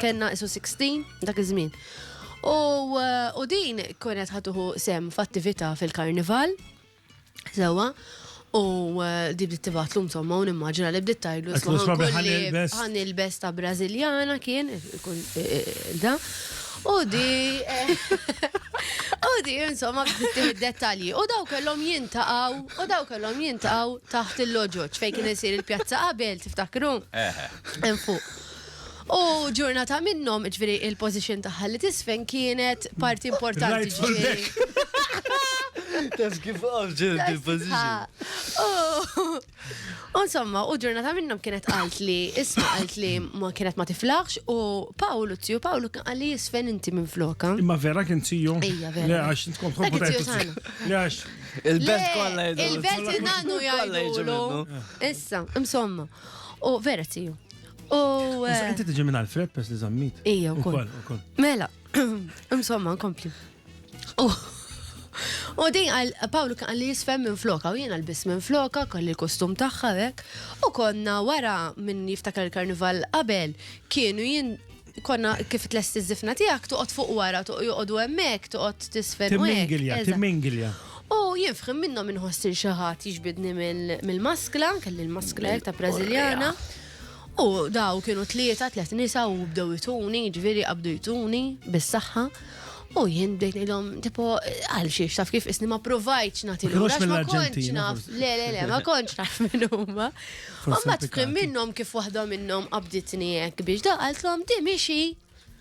Kien naqsu 16 dak iż-żmien. U din kienet ħatuħu sem f'attività fil-karnival. Sewa. U eh, di bdiet tibatlu insomma u nimmaġina li bdiet tajlu ħan il-bes ta' Brażiljana kien eh, da. U di eh, u di insomma bdiet dettalji. U daw kellhom jintaqaw, u daw kellhom jintaqaw taħt il-loġoġ fejn kien isir il-pjazza qabel tiftakru. Hemm fuq. U ġurnata minnhom, ġifieri il-pożition tagħha li tisfen kienet parti importanti ġifieri. Taf kif għamġil il-pożition. U insomma, u ġurnata minnhom kienet qalt li isma qalt li ma kienet ma tiflaħx u Pawlu tiju Pawlu kien qal li jisfen inti minn floka. Imma vera kien tiju. Ija vera. Le għax tkun tkun Le għax. Il-belt kollha jgħidu. Il-belt nagħnu jgħidu. Issa, insomma. U vera tiju. U. Eh, inti tiġi minn Alfred pers li zammit. Ija, u koll. Mela, insomma, nkompli. U din għal Pawlu kan li jisfem minn floka u jiena l-bis minn floka kolli l-kostum tagħha hekk. U konna wara minn jiftakar il-karnival qabel kienu jien Konna kif tlesti ż-żifna tiegħek toqgħod fuq wara, joqogħdu hemmhekk, toqgħod t'isfen u hekk. Timmingilja, timmingilja. U jien f'ħin minnhom inħoss lil xi ħadd jiġbidni mill-maskla, kelli l-maskla hekk ta' Brażiljana, u daw kienu tlieta, tliet nisa u bdew ituni, jiġifieri qabdu jtuni bis-saħħa. U jien bdejt ngħidhom tipo għal xiex taf kif isni ma provajtx nagħti l ma kontx naf. Le le le ma kontx naf minn huma. U ma tfhem minnhom kif waħda minnhom qabditni hekk biex da qalthom di mixi.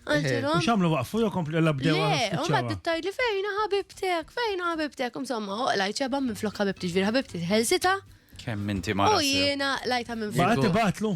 Għantilhom. Xamlu waqfu jew kompli illa bdew. Le, u ma tittajt li fejna ħabibtek, fejna ħabibtek, insomma, lajt xeba minn flok ħabibti ġvir ħabibti ħelsita. Kemm inti ma. U jiena lajta minn flok. Baqgħet ibatlu.